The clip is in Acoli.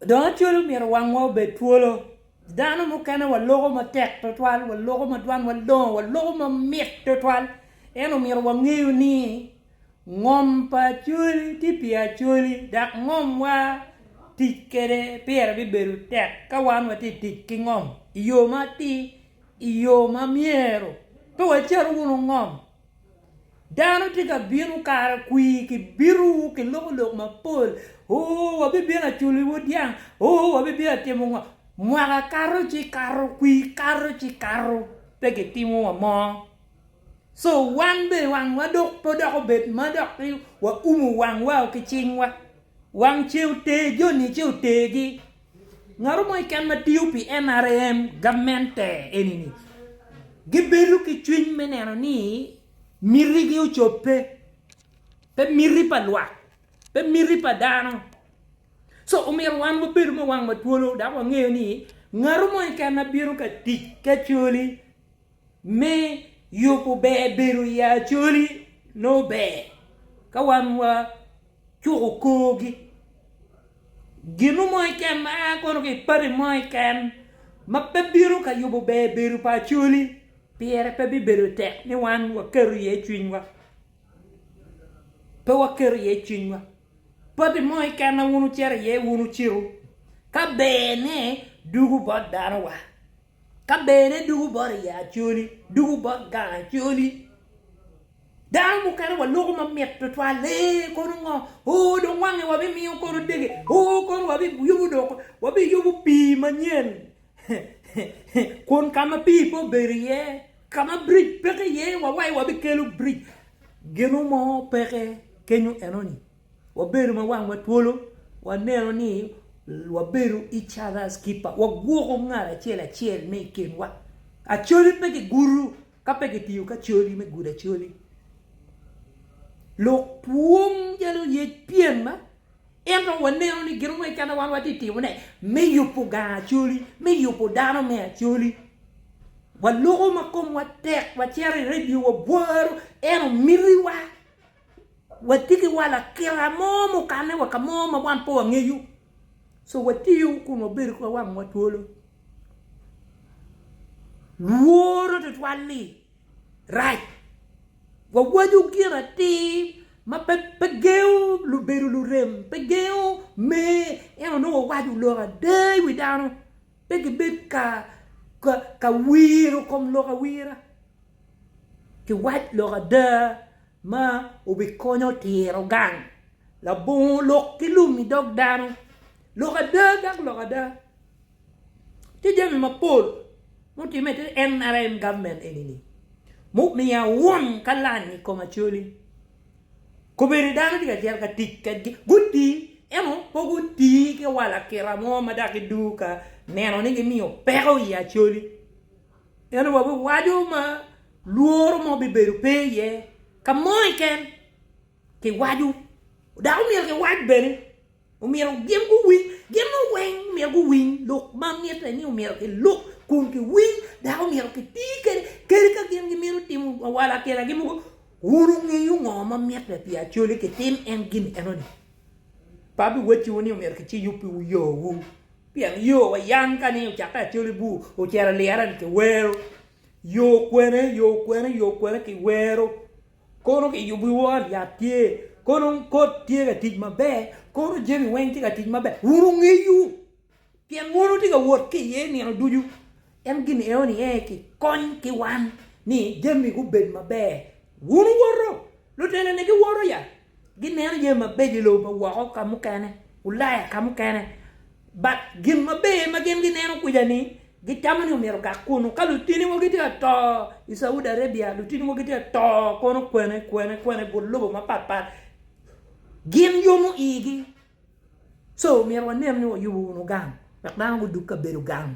Dong acwalo myero wangwa obed twolo. Dano mukene waloko matek twatwal, waloko ma dwanwa longo, waloko mamit twatwal. Ento myero wangeyo ni ngom pa Acholi tye pi Acholi dok ngomwa tic kwede pire bibedo tek ka wan watye ka tic ki ngom i yo matir, i yo ma myero pe wacar wunu ngom. Dano tye ka bino kara kwir ki bito ki loko lok mapol oo wabibino aculiwu dyang oo wabibino atimo ngo mwaka kato ci kato kwir kato ci kato pe ki timo wa mo so wan bene wang wa dok pe odok obed ma dok ni wa umu wang wa ki cing wa wang ce oter joni ce oter gi Ngatu mo keken ma tiyo pi NRM gamente eni-ni gibedo ki cwiny me neno ni mitigi ocobbe, pe miti pa lwak, pe miti pa dano. So omyero wan wabedo ma wang matwolo dok wangeyo ni ngatu mo keken ma bino ka tic ki Acholi, Me yubo ber bedo i Acholi nongo ber ka wan wacuko korgi. Gino mo keken ma a kono ki i pati mo keken ma pe bino ka yubo ber bedo pa Acholi pire pe bibedo tek ni wan waketo iye cwinywa. Pe waketo iye cwinywa pati mo keken ma wun wucito iye wun wucitu ka berne dwogo bot dano wa. Ka bene dugu bot i Acholi, dugu bot gang Acholi. Dano mukene wa loko ma mit tutwal, ee kono ngo, oo dong wange wa bi miyo kono dege, oo kono wa bi yubu dong, wa bi yubu pii manyen, kun ka ma pii pe obedo iye, ka ma bridge peke iye wa wai wa bi kelo bridge. Ginu mo peke kenyo enoni. Wabedo ma wangwa twolo, waneno ni wabedo each other's keeper, wagwoko ngat acel acel me i kinwa. Acoli pe kigudo ka pe kitiyo ki acoli me gudo acoli. Lok pwony calo yec pyem ma ento waneno ni gin mo keken ma wan watye ka timone me yubo gang acoli, me yubo dano me acoli. Waloko ma komwa tek wacito i redio wabworo en omitiwa. Watye ki wa lakita mo mukane wa ka mo ma wan pe wangeyo, so watiyo kun wabedo ki wangwa twolo. Lworo tutwal-li rac. Wawaco gin atir ma pe gengo lubedo lurem, pe gengo me, ento nongo wawaco lok ada i wi dano. Pe gibed ka wiro kom lok awira ki wac lok ada ma obikonyo tiro gang, labongo lok ki lum i dog dano. Lok ada dok lok ada. Tye jami mapol mutimme ki NRM government eni mumiyo awun ka lany i kom Acholi. Kobedi dano tye ka cito ka tic kedgi, gutii, ento pe gutii ki wa lakita mo ma dok gidwogo ka neno ni gimiyo peko i Acholi. Ento wa biwaco ma lworo mo bibedo pe iye ka mo keken, kiwaco dok omyero kiwac bene. Omyero gin guwiny, gin mo weng omyero guwiny lok ma mitte ni omyero ki luk kun ki winy dok omyero ki ti kede kadi ka gin gimito timo awala kela gi mogo wun wungeyo ngo ma mitte pi acoli ki tim en gin eno ni pe abi wacci wu ni omyero ki ci yubi wu yo wu pien yo wa yam ka ni ocakke acoli bur ocito liyere ni ki wero yo kwene yo kwene yo kwene ki wero Kono kiyubo i wor yat tye, kono kot tye ka tic maber, kono jami weng tye ka tic maber, wun wungeyo, pien wun wutye ka wot ki iye nino ducu. En gin enoni aye kikony ki wan ni jami gubed maber. Wun wuwoto, luteloni giwoto ya, gineno jami mabeco i lobo ma woko ka mukene, Ulaya ka mukene, But gin maber ma gin gineno kwica ni gitamo ni omyero gak kunu ka lutini wa gitye ka to i Saudi Arabia lutini wa gitye ka to kono kwene kwene kwene i but lobo mapat pat gin yomo igi so omyero wanen ni wayubo wunu gang wek dano gudug kabedo gang.